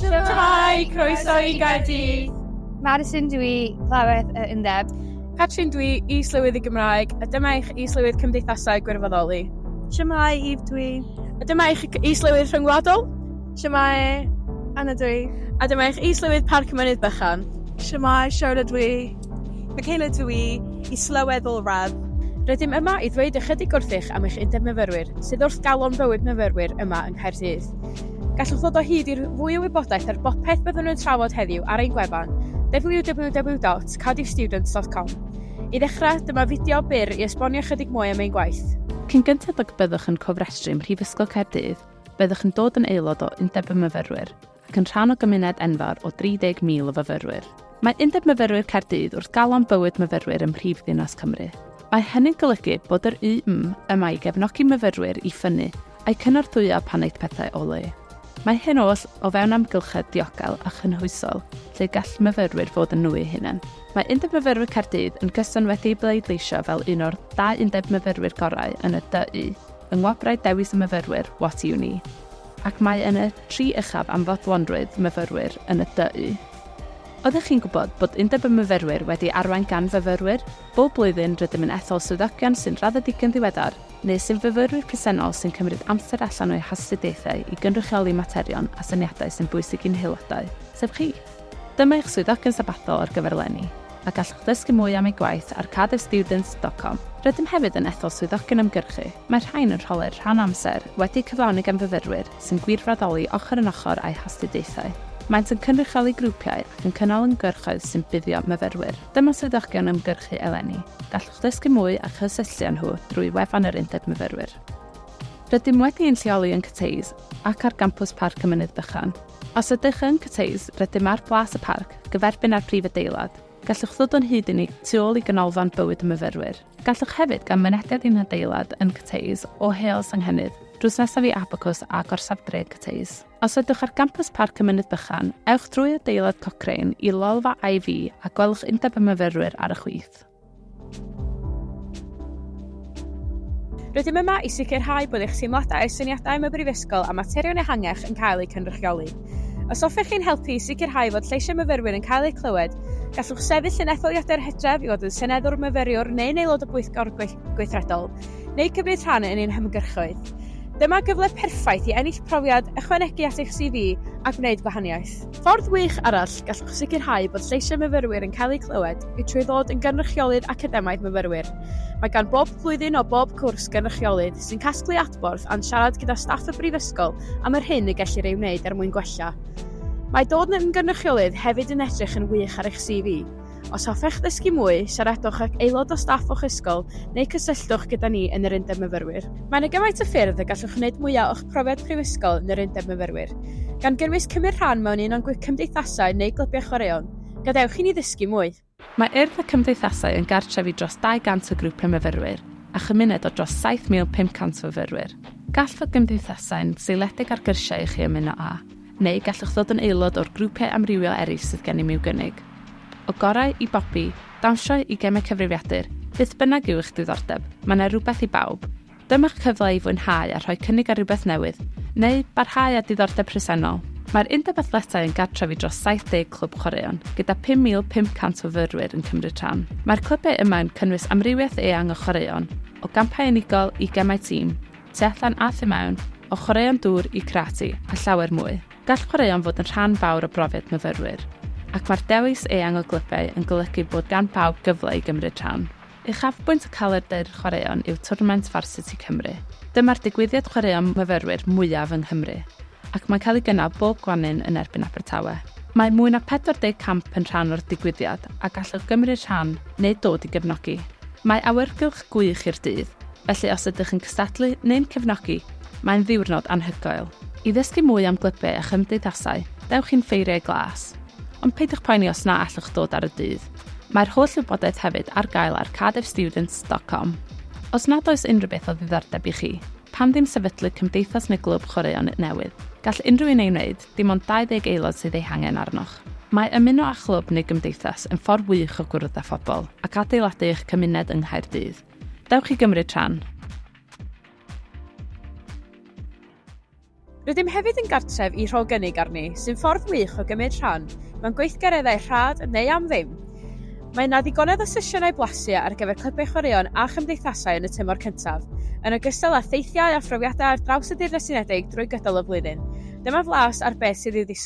Shwmae! Croeso i Gaerdydd! Madison dw i, Llawedd y Undeb. Catrin dw i, Is-lywydd y Gymraeg, a dyma eich Is-lywydd Cymdeithasau Gwirfoddoli. Shwmae, Eve dw i. A dyma eich Is-lywydd Rhyngwladol. Shwmae, Anna dw i. A dyma eich Is-lywydd Parc Mynydd Bychan. Shwmae, Charlotte dw i. Michaela dw i, Is-lywydd Ôl Radd. Rydym yma i ddweud ychydig wrthych am eich Undeb Myfyrwyr, sydd wrth galon bywyd myfyrwyr yma yng Nghaerdydd. Gallwch ddod o hyd i'r fwy o wybodaeth ar bopeth byddwn yn trafod heddiw ar ein gwefan www.cardiffstudents.com. I ddechrau, dyma fideo byr i esbonio ychydig mwy am ein gwaith. Cyn gynted ag y byddwch yn cofrestru ym Mhrifysgol Caerdydd, byddwch yn dod yn aelod o Undeb y Myfyrwyr ac yn rhan o gymuned enfawr o 30,000 o fyfyrwyr. Mae Undeb Myfyrwyr Caerdydd wrth galon bywyd myfyrwyr ym mhrif ddinas Cymru. Mae hynny'n golygu bod yr UM yma i gefnogi myfyrwyr i ffynnu a'u cynorthwyo pan aeth pethau o le. Mae hyn oll o fewn amgylchedd diogel a chynhwysol lle gall myfyrwyr fod yn nhw eu hunain. Mae Undeb Myfyrwyr Caerdydd yn gyson wedi'i bleidleisio fel un o'r dau undeb myfyrwyr gorau yn y DU yng Ngwobrau Dewis y Myfyrwyr What Uni ac mae yn y tri uchaf am fodlonrwydd myfyrwyr yn y DU. Oeddech chi'n gwybod bod Undeb y Myfyrwyr wedi arwain gan fyfyrwyr? Bob blwyddyn, rydym yn ethol swyddogion sy'n raddedig yn ddiweddar, neu sy'n fyfyrwyr presennol sy'n cymryd amser allan o'u hastudiaethau i gynrychioli materion a syniadau sy'n bwysig i'n haelodau, sef chi. Dyma eich swyddogion sabathol ar gyfer eleni, a gallwch ddysgu mwy am eu gwaith ar cardiffstudents.com. Rydym hefyd yn ethol swyddogion ymgyrchu, mae rhain yn rholau'r rhan amser, wedi'u cyflawni gan fyfyrwyr, sy'n gwirfoddoli ochr yn ochr â'u hastudiaethau. Maent yn cynrychioli grwpiau ac yn cynnal ymgyrchoedd sy'n buddio myfyrwyr. Dyma swyddogion ymgyrchu eleni. Gallwch ddysgu mwy a chysylltu â nhw drwy wefan yr Undeb Myfyrwyr. Rydym wedi ein lleoli yn Cathays ac ar gampws Parc y Mynydd Bychan. Os ydych yn Cathays, rydym ar Blas y Parc, gyferbyn â'r prif adeilad. Gallwch ddod o'n hyd i ni tu ôl i Ganolfan Bywyd y Myfyrwyr. Gallwch hefyd gael mynediad i'n hadeilad yn Cathays o Heol Senghennydd, drws nesaf i Abacws a Gorsaf Dref Cathays. Os ydwch ar gampws Parc y Mynydd Bychan, ewch drwy adeilad Cochrane i lolfa IV a gwelwch Undeb y Myfyrwyr ar y chwith. Rydym yma i sicrhau bod eich teimladau, syniadau am y Brifysgol a materion ehangach yn cael eu cynrychioli. Os hoffech chi'n helpu i sicrhau fod lleisiau myfyrwyr yn cael eu clywed, gallwch sefyll yn etholiadau'r Hydref i fod yn seneddwr myfyriwr neu'n aelod o bwyllgor gweithredol, neu cymryd rhan yn ein hymgyrchoedd. Dyma gyfle perffaith i ennill profiad, ychwanegu at eich CV a gwneud gwahaniaeth. Ffordd wych arall gallwch sicrhau bod lleisiau myfyrwyr yn cael eu clywed yw trwy ddod yn gynrychiolydd academaidd myfyrwyr. Mae gan bob blwyddyn o bob cwrs gynrychiolydd sy'n casglu adborth a'n siarad gyda staff y Brifysgol am yr hyn y gellir ei wneud er mwyn gwella. Mae dod yn gynrychiolydd hefyd yn edrych yn wych ar eich CV. Os hoffech ddysgu mwy, siaradwch ag aelod o staff o'ch ysgol neu cysylltwch gyda ni yn yr Undeb Myfyrwyr. Mae yna gymaint o ffyrdd y gallwch wneud mwyaf o'ch profiad prifysgol yn yr Undeb Myfyrwyr, gan gynnwys cymryd rhan mewn un o'n cymdeithasau neu glybiau chwaraeon. Gadewch i ni ddysgu mwy! Mae Urdd y Cymdeithasau yn gartref i dros 200 o grwpiau myfyrwyr a chymuned o dros 7,500 o fyfyrwyr. Gall fod gymdeithasau'n seiliedig ar gyrsiau i chi ymuno â, neu gallwch ddod yn aelod o'r grwpiau amrywiol eraill sydd gennym i'w gynnig. O gorau i bopi, dawnsio i gemau cyfrifiadur, beth bynnag yw eich diddordeb, mae 'na rywbeth i bawb. Dyma'ch cyfle i fwynhau a rhoi cynnig ar rywbeth newydd, neu barhau â diddordeb presennol. Mae'r Undeb Athletau yn gartref i dros 70 clwb chwaraeon, gyda 5,500 o fyfyrwyr yn cymryd rhan. Mae'r clybiau yma yn cynnwys amrywiaeth eang o chwaraeon, o gampau unigol i gemau tîm, tu allan a thu mewn, o chwaraeon dŵr i karate, a llawer mwy. Gall chwaraeon fod yn rhan fawr o brofiad myfyrwyr, ac mae'r dewis eang o glybiau yn golygu bod gan bawb gyfle i gymryd rhan. Uchafbwynt y Calendr Chwaraeon yw twrnament Varsity Cymru. Dyma'r digwyddiad chwaraeon myfyrwyr mwyaf yng Nghymru, ac mae'n cael ei gynnal bob Gwanwyn yn erbyn Abertawe. Mae mwy na 40 camp yn rhan o'r digwyddiad a gallwch gymryd rhan neu dod i gefnogi. Mae awyrgylch gwych i'r dydd, felly os ydych yn cystadlu neu'n cefnogi, mae'n ddiwrnod anhygoel. I ddysgu mwy am glybiau a chymdeithasau, dewch i'n Ffeiriau Glas. Ond peidiwch poeni os na allwch ddod ar y dydd. Mae'r holl wybodaeth hefyd ar gael ar cardiffstudents.com. Os nad oes unrhyw beth o ddiddordeb i chi, pam ddim sefydlu cymdeithas neu glwb chwaraeon newydd? Gall unrhyw un ei wneud, dim ond 20 aelod sydd eu hangen arnoch. Mae ymuno â chlwb neu gymdeithas yn ffordd wych o gwrdd â phobl ac adeiladu eich cymuned yng Nghaerdydd. Dewch i gymryd rhan! Rydym hefyd yn gartref i Rho Gynnig Arni, sy'n ffordd wych o gymryd rhan mewn gweithgareddau rhad neu am ddim. Mae yna ddigonedd o sesiynau blasu ar gyfer clybau chwaraeon a chymdeithasau yn y tymor cyntaf, yn ogystal â theithiau a phrofiadau ar draws y Deyrnas Unedig drwy gydol y flwyddyn. Dyma flas ar beth sydd i'w ddisgwyl.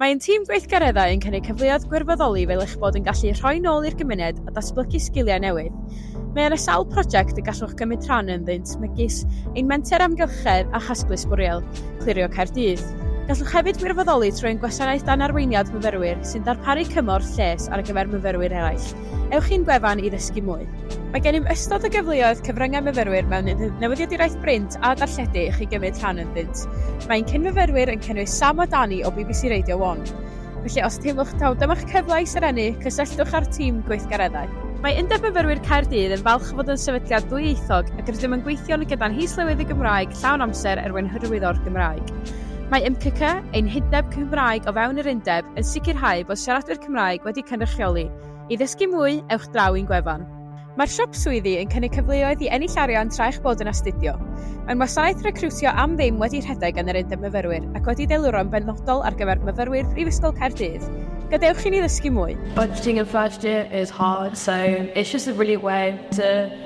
Mae ein tîm gweithgareddau yn cynnig cyfleoedd gwirfoddoli fel eich bod yn gallu rhoi nôl i'r gymuned a datblygu sgiliau newydd. Mae yna sawl prosiect y gallwch gymryd rhan ynddynt megis ein Menter Amgylchedd a Chasglu Sbwriel, Clirio Caerdydd. Gallwch hefyd wirfoddoli trwy ein gwasanaeth dan arweiniad myfyrwyr sy'n darparu cymorth lles ar gyfer myfyrwyr eraill. Ewch i'n gwefan i ddysgu mwy. Mae gennym ystod o gyfleoedd cyfryngau myfyrwyr mewn newyddiaduraeth brint a darlledu i chi gymryd rhan ynddynt. Mae ein cyn-fyfyrwyr yn cynnwys Sam a Danny o bbc Radio One. Felly os teimlwch taw dyma'ch cyfle i serennu, cysylltwch â'r tîm gweithgareddau. Mae Undeb Myfyrwyr Caerdydd yn falch o fod yn sefydliad ddwyieithog ac rydym yn gweithio'n gyda'n His-lywydd y Gymraeg llawn amser er mwyn hyrwyddo'r Gymraeg. Mae MCCC, ein hundeb Cymraeg o fewn yr undeb, yn sicrhau bod siaradwyr Cymraeg wedi cynrychioli. I ddysgu mwy, ewch draw i'n gwefan. Mae'r Siop Swyddi yn cynnig cyfleoedd i ennill arian tra eich bod yn astudio. Mae'n wasanaeth recriwtio am ddim wedi rhedeg gan yr Undeb Myfyrwyr ac wedi deluro'n benodol ar gyfer myfyrwyr Prifysgol Caerdydd. Gadewch i ni ddysgu mwy! Budgeting and first year is hard so it's just a really way to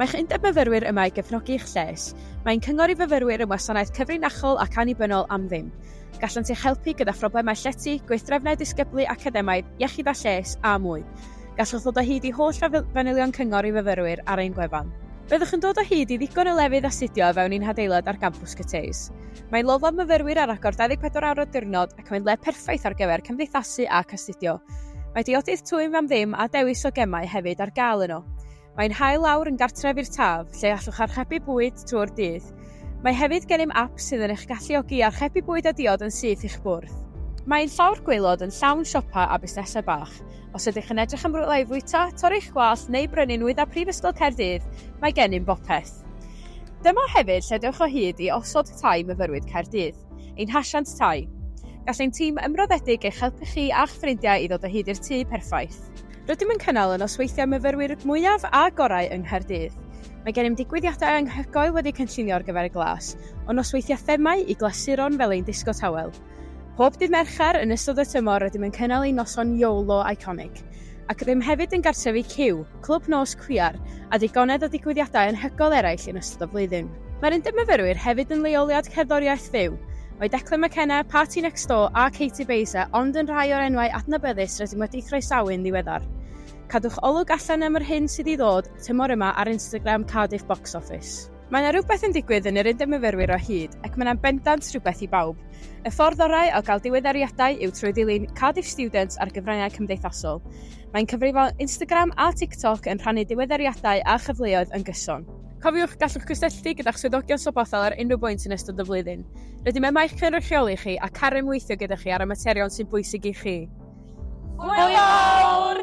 Mae'ch Undeb Myfyrwyr yma i gefnogi eich lles. Mae'n cyngor i fyfyrwyr yn wasanaeth cyfrinachol ac annibynnol am ddim. Gallant eich helpu gyda phroblemau llety, gweithdrefnau disgyblu academaidd, iechyd a lles, a mwy. Gallwch ddod o hyd i holl fanylion cyngor i fyfyrwyr ar ein gwefan. Byddwch yn dod o hyd i ddigon o lefydd astudio o fewn ein hadeilad ar gampws Cyteus. Mae lofo myfyrwyr ar agor 24 awr y diwrnod ac mae'n le perffaith ar gyfer cymdeithasu ac astudio. Mae diodydd twym am ddim a dewis o gemau hefyd ar gael yno. Mae'n hael lawr yn gartref i'r Taf, lle allwch archebu bwyd trwy'r dydd. Mae hefyd gennym ap sydd yn eich galluogi i archebu bwyd a diod yn syth i'ch bwrdd. Mae ein llawr gwaelod yn llawn siopau a busnesau bach. Os ydych yn edrych am rywle i fwyta, torri'ch gwallt neu brynu nwyddau Prifysgol Caerdydd, mae gennym bopeth. Dyma hefyd lle dewch o hyd i Osod Tai Myfyrwyr Caerdydd, ein hasiant tai. Gall ein tîm ymroddedig eich helpu chi a'ch ffrindiau i ddod o hyd i'r tŷ perffaith. Rydym yn cynnal y nosweithiau myfyrwyr mwyaf a gorau yng Nghaerdydd. Mae gennym ddigwyddiadau anhygoel wedi cynllunio ar gyfer y glas, o nosweithiau themâu i glasuron fel ein disgo tawel. Pob dydd Mercher yn ystod y tymor rydym yn cynnal ein noson YOLO Iconic. Ac rydym hefyd yn gartrefu Cyw, clwb nos cwiar, a digonedd o ddigwyddiadau anhygoel eraill yn ystod y flwyddyn. Mae'r Undeb Myfyrwyr hefyd yn leoliad cerddoriaeth fyw, Mae Declan McKenna, Party Next Door a Katie Baser ond yn rhai o'r enwau adnabyddus rydym wedi'u croesawu'n ddiweddar. Cadwch olwg allan am yr hyn sydd i ddod tymor yma ar Instagram Cardiff Box Office. Mae yna rywbeth yn digwydd yn yr Undeb Myfyrwyr o hyd ac mae yna'n bendant rhywbeth i bawb. Y ffordd orau o gael diweddariadau yw trwy ddilyn Cardiff Students ar gyfryngau cymdeithasol. Mae'n cyfrifon Instagram a TikTok yn rhannu diweddariadau a chyfleoedd yn gyson. Cofiwch, gallwch gysylltu gyda'ch swyddogion Sobothel ar unrhyw bwynt yn ystod y flwyddyn. Rydym yma i'ch cynrychioli chi ac ar ymweithio gyda chi ar y materion sy'n bwysig i chi. Hwyl fawr!